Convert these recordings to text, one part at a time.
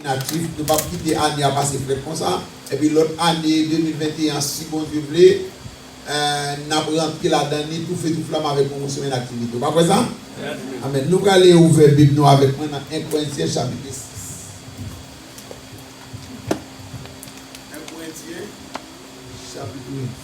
inaktif nou pap kite ane a pase frèt konsa epi lòt ane 2021 an si Bondye vle nap rantre ladan ni tou fe tou flam avèk pwomosyon inaktivite ou pa kwè sa? Amen nou prale ouvè bib nou avèk mwen nan 1 Korentyen chapitre 6 1 Korentyen chapitre 6 1.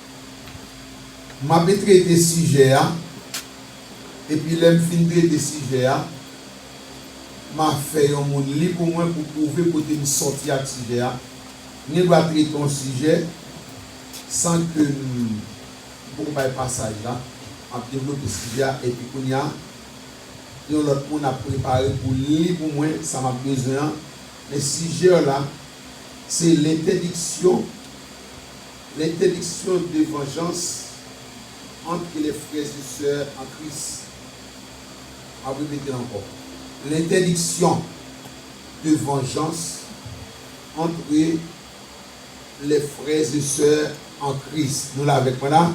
M ape trete sijè a, epi lè m fin trete sijè a, m a fè yon moun li pou mwen pou pwouve kote m sòti ak sijè a. M gen dwa trete yon sijè san ke m poko bay pasaj la. M ap devlope sijè a, epi kounye a, yon lòt moun ap prepare pou l li pou mwen sa m ap bezwen an. Men sijè w la, se lentèdiksyon. L'interdiction de vengeance entre les frères et sœurs en Christ Map repetel ankò L'interdiction de vengeance entre les frères et sœurs en Christ Nou la avèk mwen la?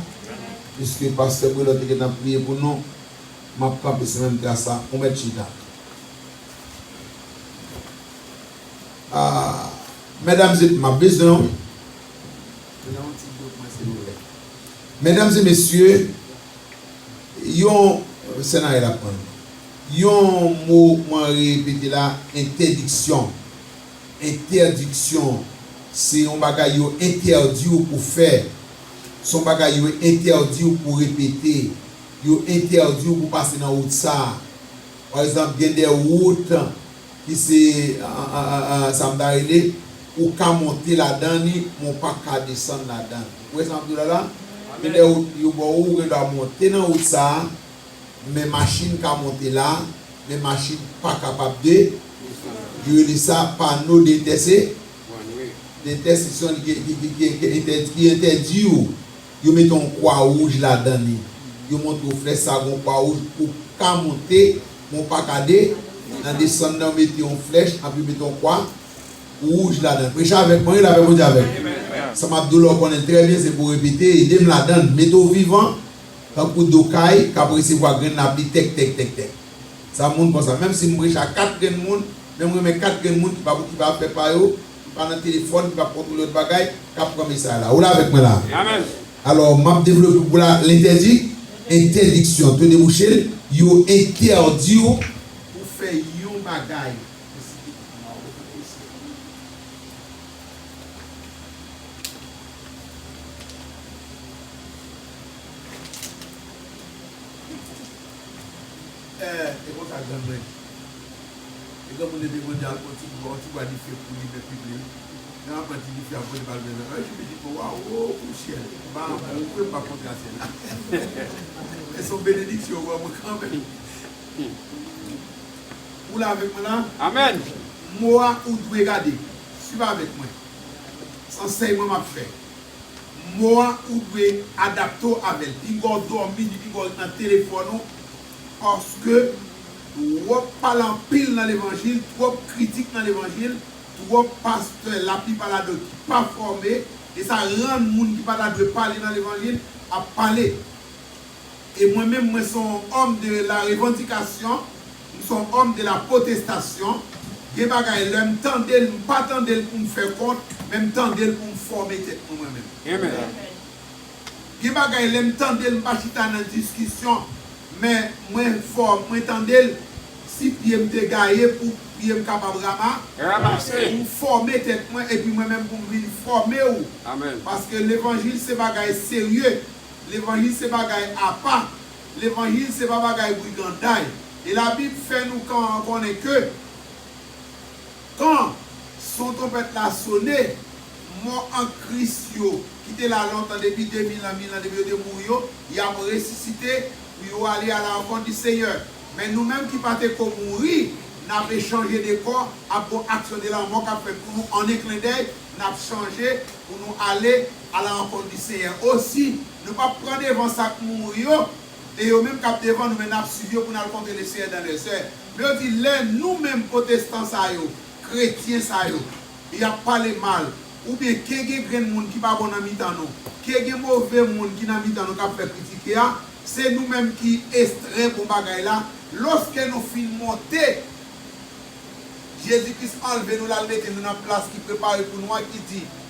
Piske Pastè Brelò te gentan priye pou nou, map kanpe sou menm tras la, ou mèt chita. Ahh! Mesdames et Map bezwen w wi. Medam e mesye, yon Sena el ap pran nou. Yon mo mwen repete la, entèdiksyon. Entèdiksyon. Se yon bagay yo entèdi w pou fè. Se yon bagay yo entèdi w pou repete. Yo entèdi w pou pase nan wout sa. Pa egzanp, gen de wout Ki se sa m ta rele ou ka monte ladan li men w pa ka desann ladan l. Ou wè sa m ap di w la la? Gen de wout ki yo ba w ou gen dwa monte nan wout sa a men machin ka monte la men machin pa kapab de yo rele sa pano dentèse dentèsisyon ki entèdi ou. Yo mete yon kwa wouj ladan li. Yo montre w flè sa gen yon kwa wouj pou w ka monte, men w pa ka de, nan desann nan yo mete yon flèch anpi yo mete yon kwa wouj ladan l. Preche avèk mwen, rele avèk mwen di avèk. Sa m ap di w la w konnen l trè byen, se pou w repete, ede m ladan l, mete w vivan tankou do kay k ap resevwa grenn lapli tèk tèk tèk tèk. Sa moun konsa, menm si m preche a kat grenn moun, men m renmen kat grenn moun ki pa pou ki pa pè pa yo, M pa nan telefòn, m pa kontwole lòt bagay k ap pran mesaj la. Ou la avèk mwen la a? Alò, m ap devlope pou w la, lentèdi, entèdiksyon, to debouche l, yo entèdi w pou fè yon bagay, m site tout nwa yo, m ap eseye pou nou. Ee e konsa grann mwen di. E granmoun leve mande al pran yon ti bouga yon ti bwa dife pou limen pip li wi. Nan aprann ti dife a pote bal mwen nan anj midi mwen wa woo pou syèl ba mwen ou kwem pa kontra syèl la e son benediksyon ou ban mwen kanmenm ou la avèk mwen la amen mwa ou dwe gade swiv avèk mwen san sèyman map fè. Mo a ou dwe adapte w avè l. Pinga w dòmi ni pinga w ret nan telefòn ou paske twòp pale anpil nan levanjil, twòp kritik nan levanjil, twòp pastè laplipa ladan yo ki pa fòme e sa rann moun ki pa ta dwe pale nan levanjil ap pale. E mwen menm mwen se yon homme de la revendication, m se yon homme de la protestation, gen bagay lè m tande l m pa tande l pou m fè kont men m tande l pou m fòme tèt mwen mwen menm. Gen bagay lè m tande l m pa chita nan diskisyon men mwen fò mwen tande l si pye m te gaye pou pye m kapab rama pou m fòme tèt mwen epi mwen menm pou m vin fòme ou paske levanjil se bagay serye Levanjil se bagay apa, levanjil se pa bagay briganday. E la bib fè nou kan an konnen ke kan son tonpèt la sone, mò an kris yo ki te la lontan depi 2000 an, 1000 an depi yo te mouri yo, yap resisite pou yo ale a la rankont di Senyè. Men nou menm ki pa te ko mouri, nap echanje de kò ap gon aksyon de lanmò kap fèt pou nou an en klendèy, nap chanje pou nou ale. A la rankont di Senyè o si nou pap pran devan sa k mouri yo, e yo menm k ap devan nou men n ap swiv yo pou n al kontre le Senyè dan lèzè. Men yo di lè nou menm potestan sa yo, kretyen sa yo, y ap pale mal, oubyen ke gen grenn moun ki pa bon nan mitan nou, ke gen move moun ki nan mitan nou k ap fè kritike a, se nou menm ki estrè bon bagay la, lòske nou fin monte, Jezi Kris anlve nou l al mete nou nan plas ki prepare pou nou an ki di,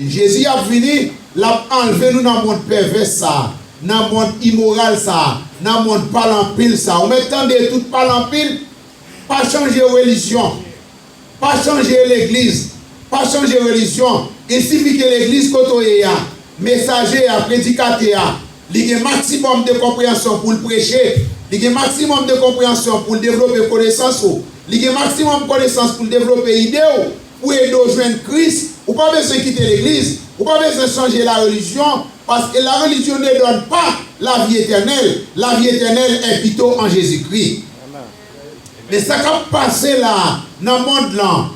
Jezi ap vini, l ap anlve nou nan mond pèvès sa a, nan mond imoral sa a, nan mond pale anpil sa a. Ou mèt tande tout pale anpil? Pa chanje relijyon. Pa chanje legliz. Pa chanje relijyon. Il sifi ke legliz kote w ye a, mesaje a, predikatè a, li gen maksimòm de konpreyansyon pou l preche, li gen maksimòm de konpreyansyon pou l devlope konesans ou, li gen maksimòm konesans pou l devlope ide ou, Pou ede w jwenn Kris, ou pa bezwen kite legliz, ou pa bezwen chanje larelijyon, paske larelijyon ne dòn pa lavi etènèl, lavi etènèl è pito an Jezikri. Men sa kap pase la nan mond lan,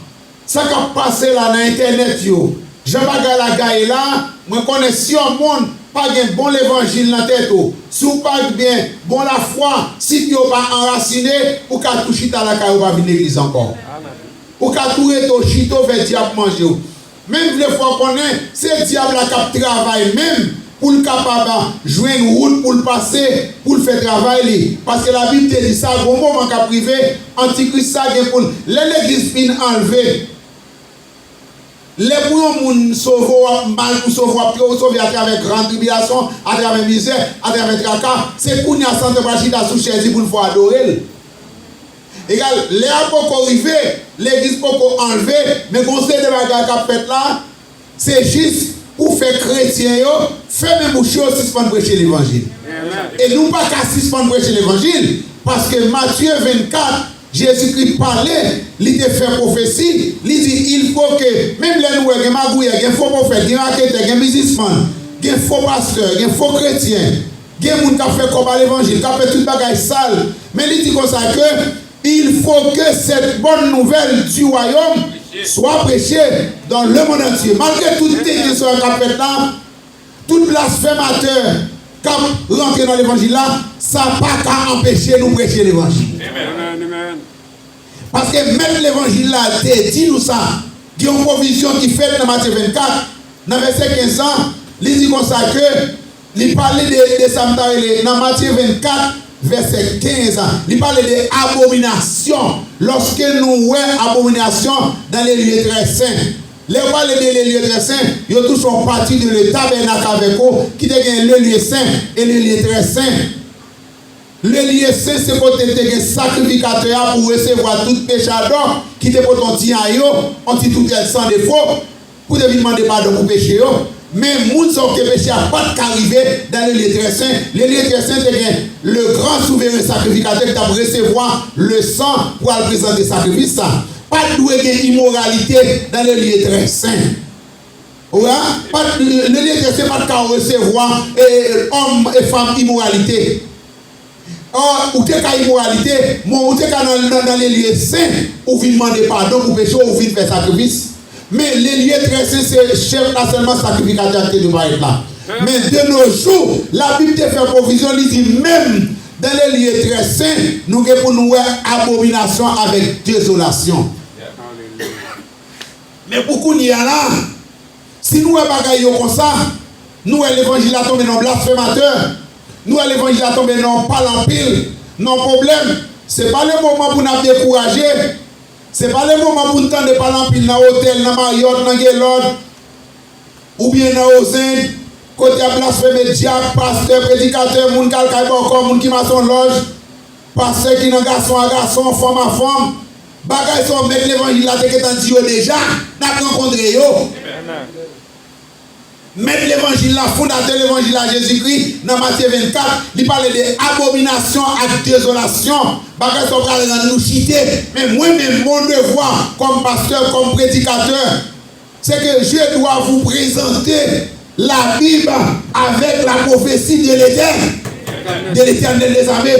sa kap pase la nan entènèt yo, jan bagay la gaye la, mwen konnen si yon moun pa gen bon levanjil nan tèt ou, si w pa gnben bon lafwa, si pye w pa anrasine, ou ka tou chita lakay ou pa vin legliz ankò. Ou ka tou rete w chita w fè dyab manje w. Men m vle fè w konnen se dyab la k ap travay menm pou l kapab jwenn wout pou l pase pou l fè travay li. Paske Labib te di sa gon moman k ap rive antikris sa gen pou l lè legliz fin anlve lè pou yon moun sove w ap mal pou sove w ap tro sove atravè gran tribilasyon atravè mizè atravè traka se kounya satan pral chita sou chèz li pou l fè w adore l. Egal, lè a poko rive, legliz poko anlve, men gon seri de bagay kap fèt la, se jis pou fè kretyen yo fèmen bouch yo, sispann preche levanjil. E nou paka sispann preche levanjil, paske Matye 24, Jezikri pale, li te fè pwofesi, li di il fo ke menm lè nou wè gen magouyè, gen fo pwofèt, gen raketè, gen bizismann, gen fo pastè, gen fo kretyen, Gen moun kap fè kòb a levanjil, kap fè tout bagay sal, men li di konsa ke il faut que cette bonne nouvelle du royaume soit prêchée dans le monde entier. Malgre tout tenten sa yo kap fèt la, tout blasfèmatè kap rantre nan levanjil la, sa pa ka anpeche nou prêche levanjil. Paske mèt levanjil la te di nou sa, gen yon pwovizyon ki fèt nan Matye 24, nan vèsè 15 lan, li di konsa ke, Li pale de de sa m ta rele nan Matye 24, vèsè 15 a. Li pale de abominasyon. Lòske nou wè abominasyon dans les lieux très saints. Lè yo pale de les lieux très saints, yo tou son pati de le tabernacle avec ou ki te gen le lieu saint et le lieu très saint. Le lieu saint se kote te gen sakrifikatè a pou resevwa tout pechadò ki te pote on ti ayo, on ti toutèl san defo. pou w te vin mande padon pou peche yo, men moun sa w te peche a pa t ka rive dan le lye trè sen, le lye trè sen te gen le gran souveren sakrifikatè ki t ap resevwa le san pou al prezante sakrifis sa. Pa t dwe gen imoralite dan le lye trè sen. Ou wè a? Pa t, le lye trè sen pa t ka resevwa òm e fanm imoralite. Ahh ou te ka imoralite m'en ou te ka nan le lye sen ou vin mande padon pou peche ou vin fè sakrifis men le lye trè sen se chèf la sèlman sakrifikatè a te dwe parèt la men de no jou la bib te fè pwovizyon li di menm dan le lye trè sen nou gen pou nou wè abominasyon avèk dezolasyon men pou kounye a la Si nou wè bagay yo konsa, nou wè levanjil la tonbe nan blasfematè, nou wè levanjil la tonbe nan pale anpil, nan pwoblèm, se pa le moman pou n'ap dekouraje, se pa le moman pou n tande pale anpil nan otèl, nan Marriott, nan Gaylord, oubyen nan Ozend, kote y'ap blasfeme dyab, pastè, predikatè, moun k'al kay bòkò, moun ki mason lòj, pastè ki nan gason a gason, fanm a fanm. Bagay fò mèt levanjil la te gentan di yo deja nap rankontre yo. Mèt levanjil la, fondatè levanjil la Jezi Kri nan Matye 24 li pale de abominasyon ak dezolasyon, bagay fò pral rann nou chite men mwen menm mon devwa kòm pastè, kòm predikatè, Se ke je dwa vou prezante la Bib avèk la pwofesi de Letèn, de Letènèl dezame.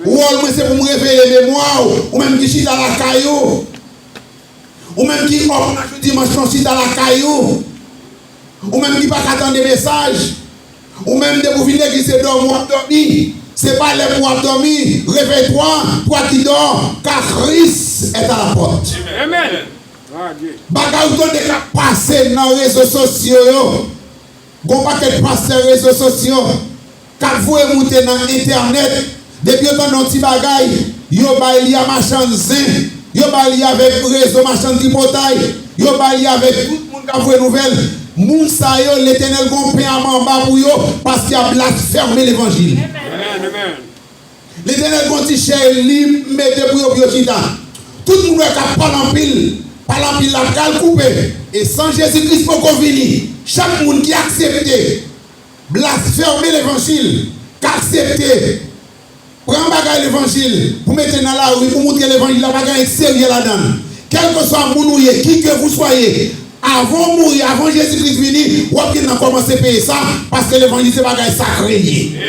Wòl mwen se pou m reveye memwa ou, ou menm ki chita lakay ou. Ou menm ki òf nan jou dimanch lan chita lakay ou. Ou menm ki pa ka tande mesaj. Ou menm depi ou vin legliz se dòmi w ap dòmi. Se pa lè pou w ap dòmi. Reveye twa, twa ki dò, ka Kris èt a la pòt. Amen. Bagay ou tande kap pase nan rezo sosyo yo, gon pakèt pastè rezo sosyo kap voye moute nan entènèt, depi yo tande yon ti bagay yo bay li a machann zen, yo bay li avèk rezo machann tripotay, yo bay li avèk tout moun kap voye nouvèl, moun sa yo Letènèl gon pen a manba pou yo paske yap blasfème levanjil. Letènèl pran ti chè li mete pou yo pou yo chita. Tout moun wè kap pale anpil, pale anpil la pral koupe. E san Jezi Kris poko vini, chak moun ki aksepte blasfeme levanjil, k aksepte pran bagay levanjil pou mete nan lari pou moutre levanjil la pa gen anyen serye ladann. Kèlkeswa moun ou ye, kikevousoye, avan ou mouri, avan Jezi Kris vini, wap gen nan kòmanse peye sa, paske levanjil se bagay sakre li ye.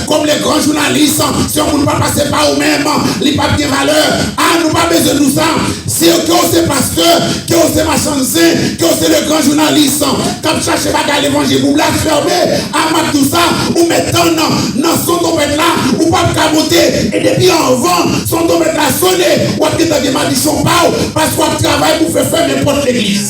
Kom le gran jounalis si yon moun pa pase pa ou menm li pap gen valè ah nou pa bezwen nou sa siw kew se pastè kew se machann zen kew se le gran jounalis kap chache bagay levanjil pou blasfème ah map diw sa ou met tann nan son tonpèt la ou pap ka monte e depi anvan son tonpèt la sone wap gentan gen madichon paw pask wap travay pou fè fèmen pot legliz.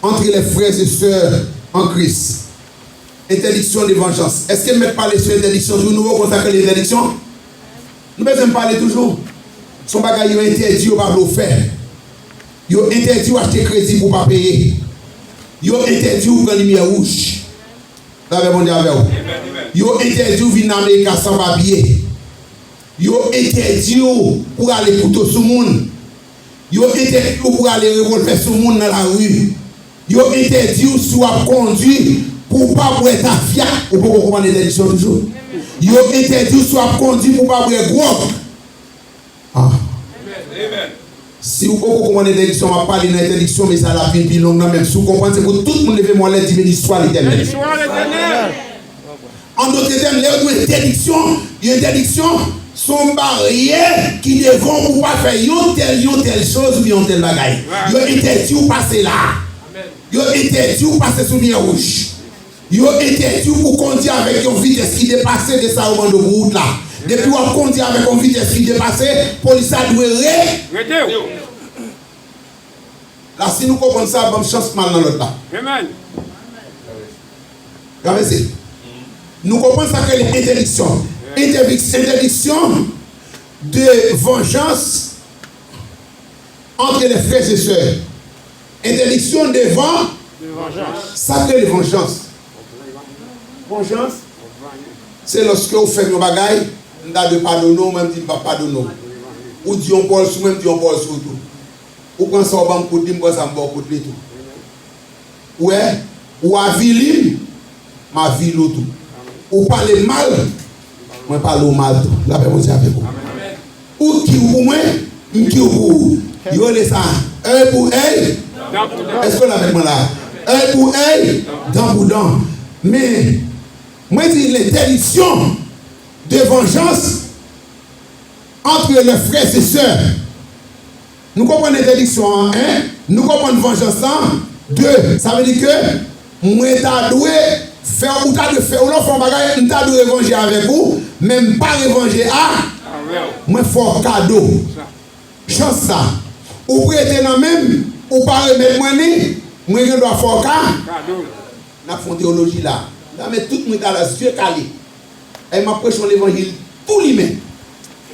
Antre lè frè e sè an Kris. Entèdiksyon de vanjans. Èske m mèt pale sou entèdiksyon toujou? Nou rekonn sa k rele entèdiksyon? Nou bezwen m pale toujou? S on bagay yo entèdi yo pa vle w fè. Yo entèdi w achte kredi pou w pa peye. Yo entèdi w pran limyè wouj. Lavè Bondye avè w. Yo entèdi w vin nan Amerika san papye. Yo entèdi w pou w rale kouto sou moun. Yo entèdi w pou rale revolvè sou moun nan lari. Yo entèdi w si w ap kondwi pou w pa bwè tafya, ou poko konprann entèdiksyon toujou? Yo entèdi w si w ap kondwi pou w pa bwè gwòg. Ah! Si ou poko konprann entèdiksyon m ap pale nan entèdiksyon, mesaj la ap vin pi long nan men si w konprann se pou tout moun leve mòlè di Beni swa Letènèl. An dote tèm, lè yo di yon entèdiksyon, yon entèdiksyon se yon baryè ki devan w pou w pa fè yon tèl, yon tèl choz oubyen yon tèl bagay. Yo entèdi w pase la a. Yo entèdi w pase sou limyè wouj. Yo entèdi w pou w kondi avèk yon vitès ki depase de sa yo mande w pou wout la. Depi w ap kondi avèk yon vitès ki depase, polis la dwe. Rete w. la si nou konprann sa banm chans mal nan lòd la. Amen. Travèse. Nou konprann sak rele entèdiksyon. Entèdiksyon entèdiksyon de vanjans antre lè frè e sè. Entèdiksyon devan. De vanjans. Sak rele vanjans. Vanjans, se lòske ou fè m yon bagay, m ta dwe padone w, men m di m p ap padone w. Ou di yon pawòl sou mwen, m di yon pawòl sou ou tou. Ou pran sa ou ban m kout li, m pran sa m ba w kout li tou. Ou wè? Ou avili m, m avili w tou. Ou pale m mal, mwen pale w mal tou. Lapè Bondye avèk ou. Ou kiw pou mwen, m kiw pou ou. Yo rele sa èy pou èy, dan pou dan. Èske w la avèk mwen la? Èy pou èy, dan pou dan. Men, mwen di lentèdiksyon de vanjans antre lè frè e sè Nou konprann entèdiksyon an 1. Nou konprann vanjans la 2. Sa vle di ke mwen ta dwe fè w ou ta dwe fè ou lè w fè yon bagay m ta dwe revanje avèk ou men m pa revanje a mwen fè w kado chans sa ou prete nan men m ou pa remèt mwen li mwen gen dwa fè w kado l. N ap fè yon teyoloji la m ta mèt tout mwen ta la zye kale e m ap preche yon levanjil tou limen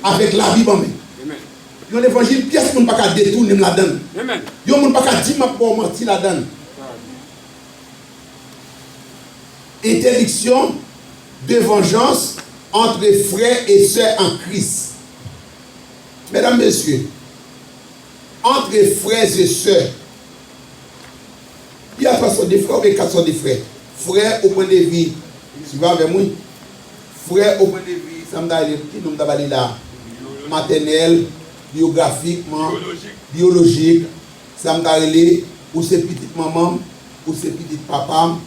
avèk labib an men. Nan levanjil pyès moun paka detounen m ladann yon moun paka dim map baw manti ladann entèdiksyon de vanjans antre frè e sè an kris mèdam mesye antre frè e sè pi a 3 sò de frè oubyen 4 sò de frè frè ou pran devi swiv avèm wi. Frè o pwen de vi sa m ta rele ki non m ta ba li la a? Matènèl, biyografikman, biyolojik, sa m ta rele ou se pitit manman m, ou se pitit papa m,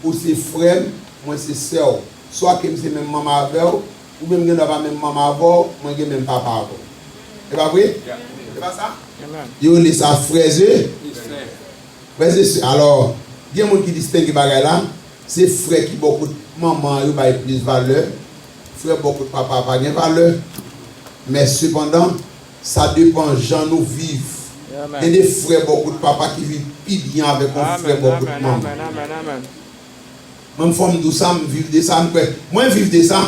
ou se frè m, mwen se sè w. Swa ke m se menm manman avè w, oubyen m gen dwa pa menm manman avè w, mwen gen menm papa avè w. E pa vre? E pa sa? Yo rele sa frèze. Frèz e sè, alò, gen moun ki distenge bagay la, se frè ki bò kot manman an yo bay plis valè, frè bò kot papa a pa gen valè. Men sepandan, sa depan jan nou viv. Gen de frè bò kot papa ki viv pi byen avèk yon frè bò kot manman. Mwen fò m di w sa, m viv de sa, m kwè, mwen viv de sa,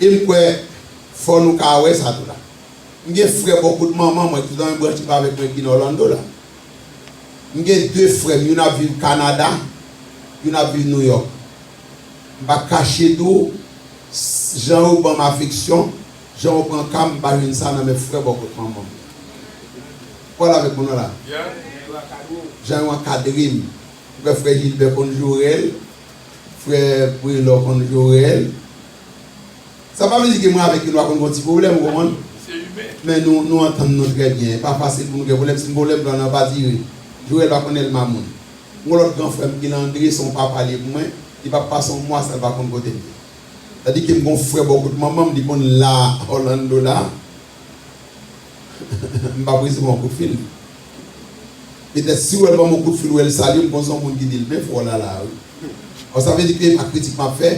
e m kwè fò nou ka wè sa tou la. M gen frè bò kot manman mwen ki nan yon branch ki pa avèk mwen ki nan Orlando la. M gen de frè m, youn ap viv Kanada, youn ap viv Nouyòk. M pa kache di w, jan yo ban m afeksyon, jan yo pran ka m, m pa jwenn sa nan men frè bò kot manman m. Ou pa la avèk mwen non la? Jan yo ankadre m. M kwè frè Jilbè konn Jorèl, frè Prelò konn Jorèl. Sa pa vle di ke mwen avèk yo nou pa konn gen yon ti pwoblèm ou konprann? Men nou antann nou trè byen e pafwa se pou nou gen pwoblèm si m gen pwoblèm blan nan pa dire. Joel pa konn Elma moun. M gen lòt gran frè m ki nan Andre se yon papa li ye pou mwen, li pa pase yon mwa san l pa konn kote m ye. Sa di ke m gen yon frè bò kot manman m li konn la Orlando la m pa prese ban w kout fil. Petèt si Joel ban m yon kout fil wè l salye m konn se yon moun ki di l byen fò lala wi. Alò sa vle di ke e pa kritik m ap fè.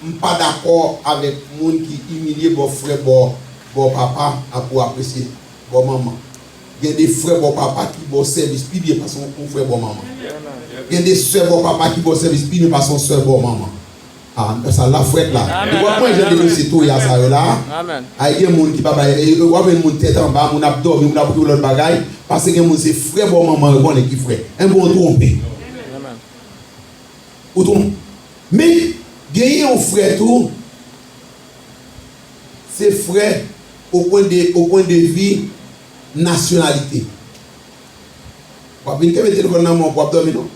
M pa dakò avèk moun ki imilye bò frè bò bò papa a pou apresye bò manman. Gen de frè bò papa ki ba w sèvis pi byen pase yon frè bò manman. Gen de sè bò papa ki ba w sèvis pi byen pase yon sè bò manman. A, m ta sa la frèt la. Depi w ap pran jan de mesye toya sa yo la, ay gen moun ki pa bay, e w ap jwenn moun tèt anba, moun ap dòmi, moun ap okipe lòt bagay, pase gen moun se frè bò manman yo konnen ki frè. Enben w twonpe. Ou tou. Men genyen yon frè tou se frè o pwen de o pwen de vi nasyonalite. W ap vin kenbe telefòn nan men w pou w ap dòmi non.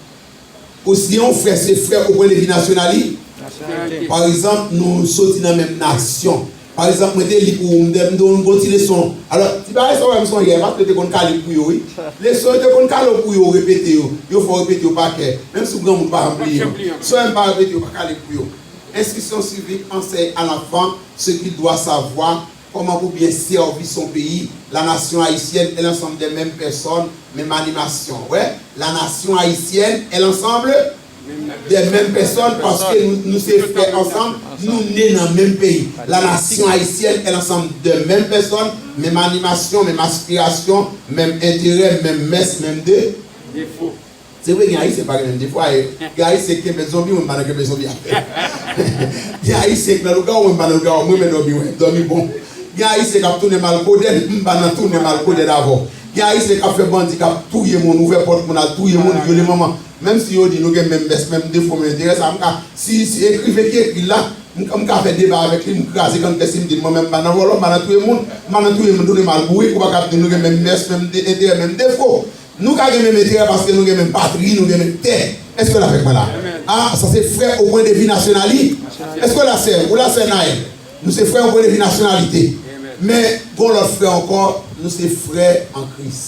Ou si gen yon frè se frè o pwen de vi nasyonali. Nasyonalite. Pa egzanp nou soti nan menm nasyon. Pa ekzanp mwen te li pou ou mte mnde w yon bon ti leson alò ti bagay sa w wè m sonje paske yo te konn kale pou yo wi leson yo te konn kale w pou yo w repete yo yo fè w repete yo pa kè menm si w granmoun pa janm bliye yo sè yo m pa repete yo pa kale pou yo enstriksyon sivik ansèy alanfan se ki dwa savwa kòman pou byen sèvi son peyi lanasyon ayisyèn èl ansanm dè menm pèsòn menm animasyon wè lanasyon ayisyèn èl ansanm Des menm pèsòn paske nou se frè ansanm nou ne nan menm peyi la nasyon ayisyèn è lansanm de menm pèsòn menm animasyon menm aspirasyon menm enterè menm mès menm defo se vre gen ayisyen pa gen menm defo ayè gen ayisyen ki kenbe zonbi mwen m pa nan kenbe zonbi avèl gen ayisyen ki nan lougawou mwen m pa nan lougawou m renmen dòmi wè dòmi bon gen ayisyen kap tounen mal kodenn m pa nan tounen mal kodenn avèw gen ayisyen kap fè bandi kap touye moun ouvè pòt moun al touye moun vyole manman Menm si yo di nou gen menm mès, menm defo, menm enterè, sa m ka, si si ekriven ki ekri l la, m m ka fè deba avèk li, m kraze grann kè si m di l mwen menm m pa nan vòlò, m pa nan touye moun, m pa nan touye moun tounen m al bourik, ou pa ka di m nou gen menm mès, menm enterè, menm defo. Nou ka gen menm enterè paske nou gen menm patri, nou gen menm tè. Èske w l avèk mwen la? A, sa se frè o pwen de vi nasyonali. Èske w la sè? Ou la sè Naëlle? Nou se frè o pwen de vi nasyonalite. Men, gen yon lòt frè ankò, nou se frè an Kris.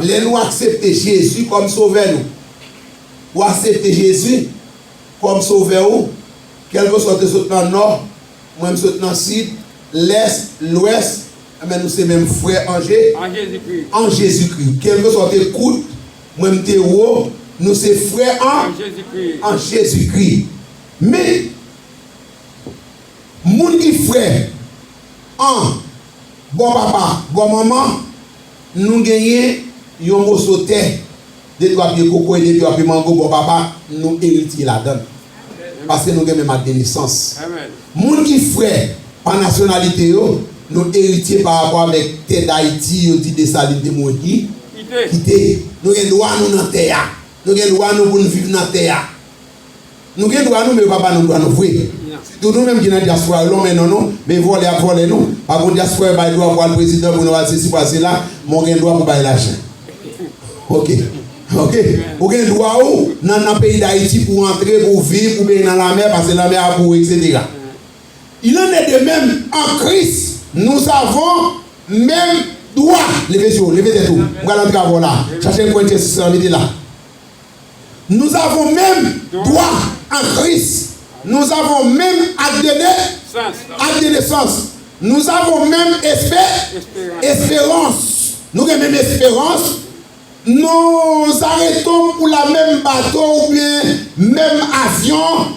Lè nou aksepte Jezi kòm Sovè nou, ou aksepte Jezi kòm Sovè ou, kèlkeswa ou te sot nan Nò, mwen m sot nan Sid, Lès, Lwès, enben nou se menm frè an Jezikri. Kèlkeswa ou te kout, mwen m te wo, nou se frè an Jezikri. Men, moun ki frè an bò papa, bò manman, Nou genyen yon moso tè, de twa pye koko e de twa pye mango bò papa n, nou eritye ladan l. Paske nou gen menm ak de nesans. Moun ki frè pa nasyonalite yo, nou eritye pa rapò avèk tè Dayiti yo di Desalin te mouri kite. Nou gen dwa nou nan tè a. Nou gen dwa nou pou n viv nan tè a. Nou gen dwa nou men yo pa ba nou dwa nou vre sitou nou menm ki nan diaspora yo lonmen non nou men vòlè ap vòlè nou pa gon diaspora yo bay dwa pou al prezidan pou nou al sesi pou al sela men w gen dwa pou bay lajan ok ok ou gen dwa w nan nan peyi dayiti pou w antre pou w viv ou beny nan lanmè pase lanmè a pou w eksetera il en est de meme en Christ nous avons meme dwa leve je w leve tèt ou m pral antre avè w la chache yon kwen tyèsi san mete la. Nous avons même droit à Christ, nous avons même acte de nai, acte de naissance, nous avons même espè, espérance, nou gen menm esperans, nous arretons pou la menm bato oubyen menm avyon,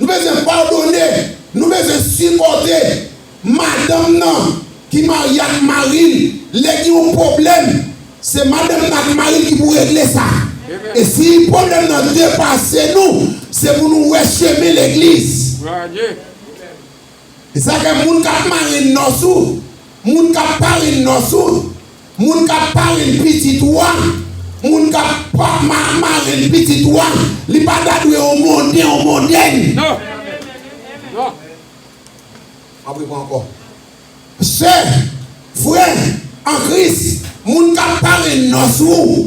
Nou bezwen padone, nou bezwen sipòte madanm nan ki marye ak mari l. Lè gen yon pwoblèm, se madanm nan ak mari l ki pou regle sa. E si pwoblèm nan depase nou, se pou nou wè chemen legliz. Sa fè moun kap marenn nòs ou, moun kap parenn nòs ou, moun kap parenn pitit ou a, moun kap pap ma marenn pitit ou a, li pa ta dwe yon monden, yon mondèn. Map repran ankò. Sè, frè, an Kris, moun kap parenn nòs ou,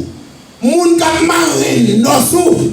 moun kap marenn nòs ou,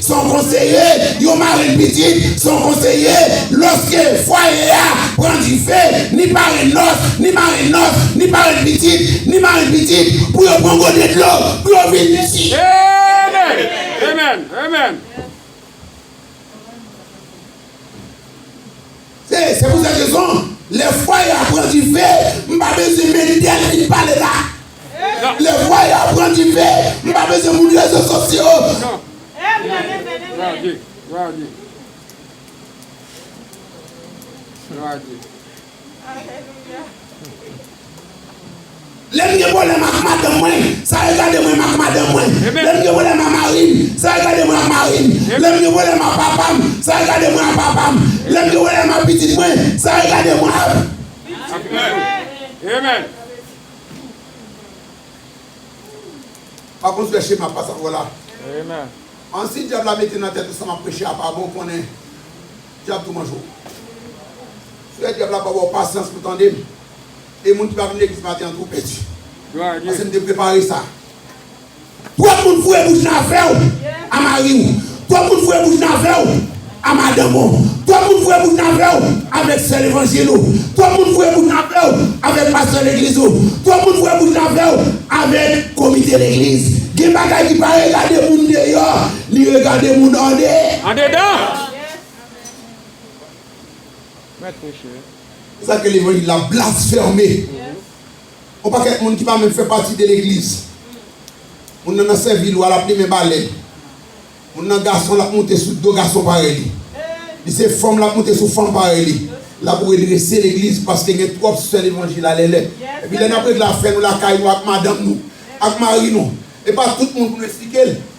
Se yon konseye, yon marenn pitit, se yon konseye, lòske fwaye a pran dife, ni parenn nòs, ni marenn nòs, ni parenn pitit, ni marenn pitit, pou yo pran gode dlo, pou yo vin di. Amen! Amen! Amen! Se se pou zèt rezon, lè fwaye a pran dife, m pa bezwen Mendel vin pale la. Lè fwaye a pran dife, m pa bezwen moun rezo sosyo. Lè m gen pwoblèm ak madanm mwen, sa regade mwen m ak madanm mwen. Lè m gen pwoblèm ak mari m, sa regade mwen ak mari m. Lè m gen pwoblèm ak papa m, sa regade mwen ak papa m. Lè m gen pwoblèm ak pitit mwen, sa regade mwen ak pitit mwen. Pa konn fè chema pasapò la. An si dyab la mete nan tèt ou sa m ap preche a pa bon, konnen Dyab tou manje w. Frè dyab la pa ba w pasyans pou tande m. E moun ki pa vin legliz maten an tou pèdi. Pase m te prepare sa. Twòp moun foure bouch nan afè w a mari w. Twòp moun foure bouch nan afè w a madanm w. Twòp moun foure bouch nan afè w avèk sè levanjil ou. Twòp moun foure bouch nan afè w avèk pastè legliz ou. Twòp moun foure bouch nan afè w avèk komite legliz. Gen bagay ki pa regade moun deyò, li regade moun ande. Andedan! Se sa k fè levanjil la blasfème. On pakèt moun ki pa menm fè pati de legliz. Moun nan nan sèvi lwa, l ap limen balè. Moun nan gason, l ap moute sou do gason parèy li. Li se fanm, l ap moute sou fanm parèy li. L ap redrese legliz paske gen twòp sè levanjil a lèlè. Epi lè n ap regle afè nou lakay nou ak madanm nou, ak mari nou, e pa tout moun pou nou esplike l.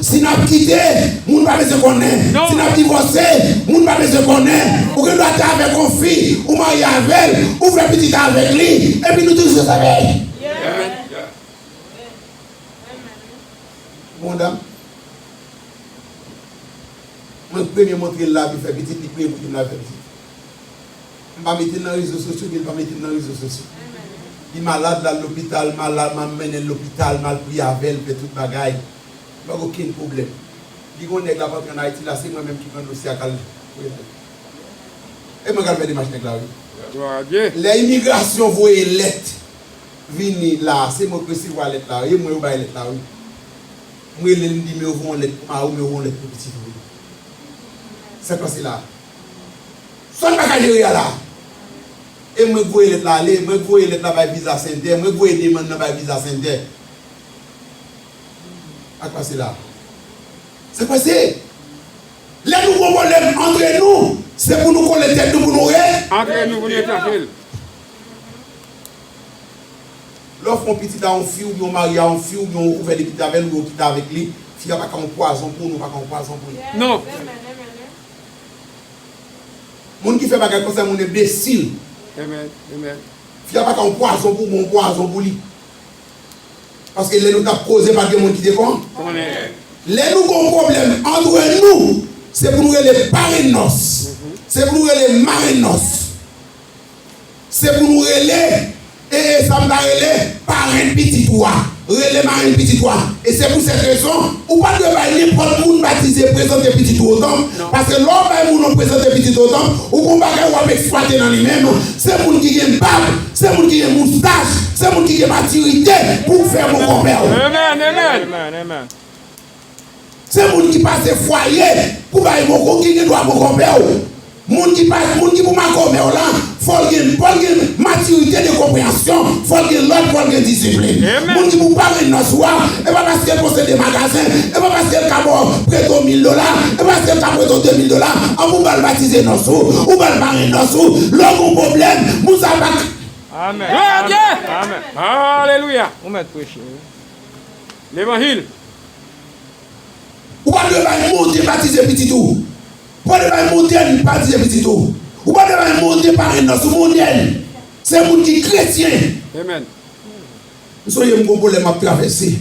Si n ap kite, moun pa bezwen konnen. Si n ap divòse, moun pa bezwen konnen. Ou gen dwa te avèk yon fi, ou marye avè l, ou fè pitit avèk li, epi nou toujou zanmi. Bon dam mwen premye montre l la pou l fè pitit, li premye montre m l ap fè pitit. M pa mete l nan rezo sosyo ni l pa mete m nan rezo sosyo. Li malad, l al lopital, m mennen l lopital, m al priye avè l, m fè tout bagay. Bag okenn pwoblèm. Li gon nèg lap antre an Ayiti la se mwen menm ki pran dosye a kal voyal. E mwen kal fè demach nèg la wi. Glwa a Dye. Lè imigrasyon voye lèt vini la se mwen ki resevwa lèt la wi e mwen yo bay lèt la wi. M relel m di men yo voye yon lèt pou mariw men yo voye yon lèt pou pitit ou wi. Sak pase la. Sòn pa ka jere a la. E mwen ki voye lèt la ale, mwen ki voye lèt la bay visa sentè, mwen ki voye demann nan bay visa sentè. Sak pase la? Sak pase? Lè nou gon pwoblèm antre nou, se pou nou kole tèt nou pou nou re. Antre nou pou nou chache l. Lè w fè yon pitit a yon fi oubyen w marye a yon fi oubyen w ouvè 2 pitit avè l oubyen w kite avèk li, fi a pa ka yon pwazon pou ou ni w pa ka yon pwazon pou li. Non. Moun ki fè bagay konsa moun enbesil. Amen. Amen. Fi a pa ka yon pwazon pou ou oubyen w yon pwazon pou li. Paske lè nou tap koze pat gen moun ki te kon. Konnen. Lè nou gon pwoblèm antre nou se pou nou rele parenn nòs, se pou nou rele marenn nòs, se pou nou rele e e sa m ta rele parenn pitit ou a, rele marenn pitit ou a. E se pou sèt rezon ou pa dwe bay nenpòt moun batize prezante pitit ou o tanp, paske lè w bay moun ou prezante pitit ou o tanp, ou gon bagay wap eksplwate nan li menm, se moun ki gen bab. Se moun ki gen moustach, se moun ki gen matirite pou w fè mo konpè w. Se moun ki pase fwaye pou bay mo konpè w ki gen dwa mo konpè w. Moun ki pase, moun ki pou makomè w lan, fò l gen, fò l gen matirite de konpreyansyon, fò l gen lòd, fò l gen disiplin. Moun ki pou pare nan sou a, e pa paske l posede magazen, e pa paske l ka ba w prete w mil dola, e pa paske l ka prete w de mil dola, an pou w ba l batize nan sou, ou ba l pare nan sou. Lè w gen yon pwoblèm, Pou sa pa t. Amen. Gloire à Dieu. Amen. Alléluia. Ou met preche wi. Levanjil. Ou pa dwe bay monte batize pitit ou. Ou pa dwe bay montel batize pitit ou. Ou pa dwe bay monte parenn nan sou modèl se moun ki kretyen. Amen. M sonje m gon pwoblèm m ap travèse.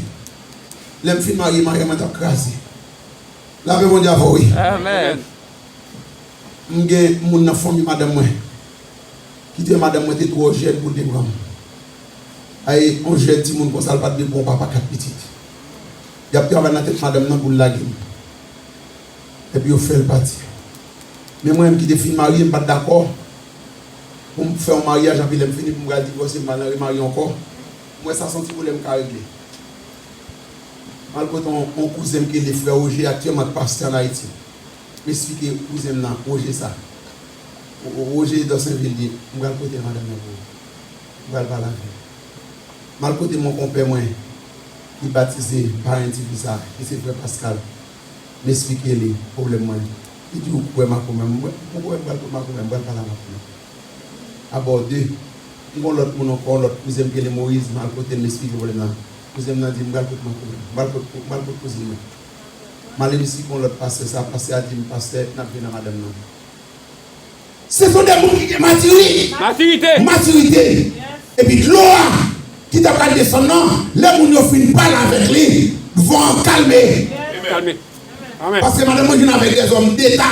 Lè m fin marye, maryaj mwen t ap kraze. Lapè Bondye avè w wi. Amen. M gen moun nan fanmi madanm mwen ki di madanm mwen te twò jèn pou l te pran m. A e on jèn timoun konsa l pa t dwe pran on papa kat pitit. Y ap travay nan tèt madanm nan pou l lage m. Epi yo fè l pati. Men mwen menm ki te fin marye m pa t dakò pou m fè on maryaj anpi lè m fini pou m pral divòse m pa nan remarye ankò. M wè sa s on ti pwoblèm m ka regle. M al kote on kouzen m ki rele frè Oje aktyèlman k pastè an Ayiti. M esplike kouzen m nan Woje sa. Woje Dorsainville di, M pral pote madanm nan pou ou. M pral pale avè l. M al kote mon konpè mwen ki batize paran ti fi sa ki se frè Paskal. M esplike li pwoblèm mwen. Li di, Ou kwè makomè? M wè, m kwè m pral kwè makomè. M pral pale a makomè. A bò de, m gen yon lòt moun ankò, yon lòt kouzen m ki rele Moyiz. M al kote l, m esplike pwoblèm nan. Kouzen m nan di m, M pral kot makomè. M pral kot kouzin nan. Malem si gon lot pastè sa pastè a dim pastè nap vin a madanm nan. Se fo de moun ki gen matirite, matirite, epi dlo a ki ta pral desann nan lè moun yo fin pale avèk li, van an kalme, paske madanm mwen vin avèk dèzòm deta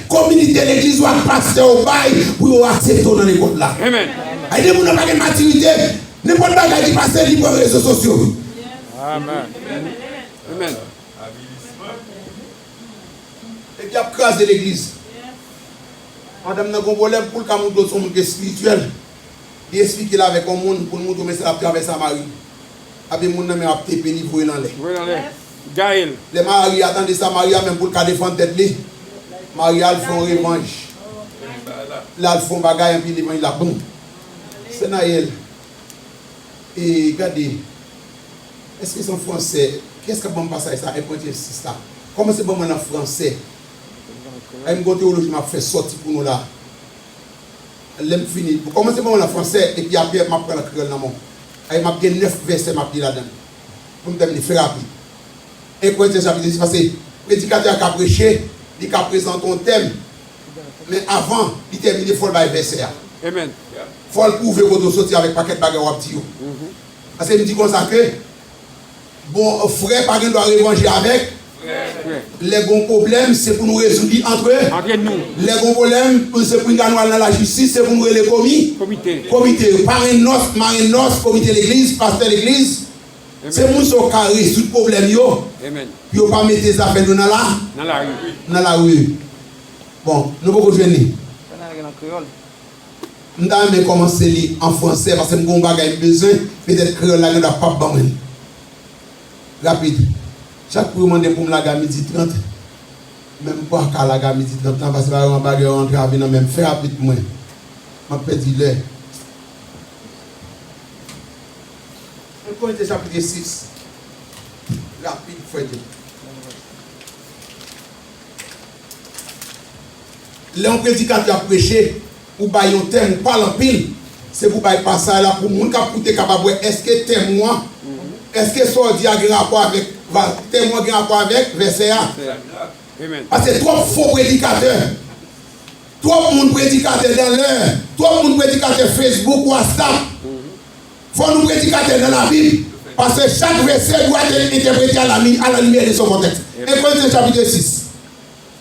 Kominite legliz ou ak pastè ou bay pou yo asepte w nan lekòl la. Ay de moun nan pa gen matirite, nenpòt bagay ki pase li pran rezo sosyo. Epi yap kraze legliz. Madanm nan gen yon pwoblèm poul ka montre w son moun ki espirityèl, li esplike l avèk yon moun poul montre w men sa lap travay sa maril. Lave moun nan men ap tepe li voye l anlè. Gaëlle. Lè Maria tande sa Maria menm poul ka defann tèt li Maria al fon revanj lal fon bagay anpi revanj la bon sè Naël e gade eske se an fransè kiyès kap banm pasaj sa enpantye sis la kòmanse banm an an fransè ay m gon tewoloji map fè sòti pou nou la lèm fini kòmanse banm an an fransè epi aprè map pranl an kreyòl nan menw ay map gen 9 vèsè map li ladann. pou m tèmine, fè rapid. Enkretyen sa vle di pase predikatè a ka preche, li ka prezante yon tèm, men avan li tèmine fò l bay vèsè a. Fò l pwouve kote w soti avèk pakèt bagay w ap di yo. Pase m di konsa ke bon frè pa gen dwa revanje avèk. Frè. Lè gon pwoblèm, se pou nou rezoud li antre. Antre nou. Lè gon pwoblèm, pou se pou nga nou al nan lajistis, se pou nou rele komi. Komite. Komite. Parenn nòs, marenn nòs, komite legliz, pastè legliz. Amen. Se pou sa w ka rezoud pwoblèm yo. Amen. Pou yo pa mete zafè nou nan la. Nan lari. Nan lari. Bon, nou poko jwenn li? Fè nan li an kreyòl. M ta renmen kòmanse li an fransè, paske m gen yon bagay m bezwen, petèt kreyòl la gen dwa pap ban mwen li. Rapid. Chat pou yo mande poum lage a midi 30 men m paka lage a midi 30 lan paske baron bagè yo antrave nan menm fè rapid pou mwen map pèdi lè. An konekte chapitre 6 rapid fèyton. Lè yon predikatè ap preche. Pou bay yon tèm ou pale anpil, se pou bay pasaj la pou moun k ap koute kapab wè èske tèm ou an, èske sa w di a gen rapò avèk pa tèm ou an gen rapò avèk vèsè a. Pase twòp fo predikatè, twòp moun predikatè nan lè, twòp moun predikatè Facebook, Whatsapp. Fò nou predikatè nan Labib, pase chak vèsè dwa te entèprete a la limyè de son kontèks. 1 Korinten chapit 2 sis.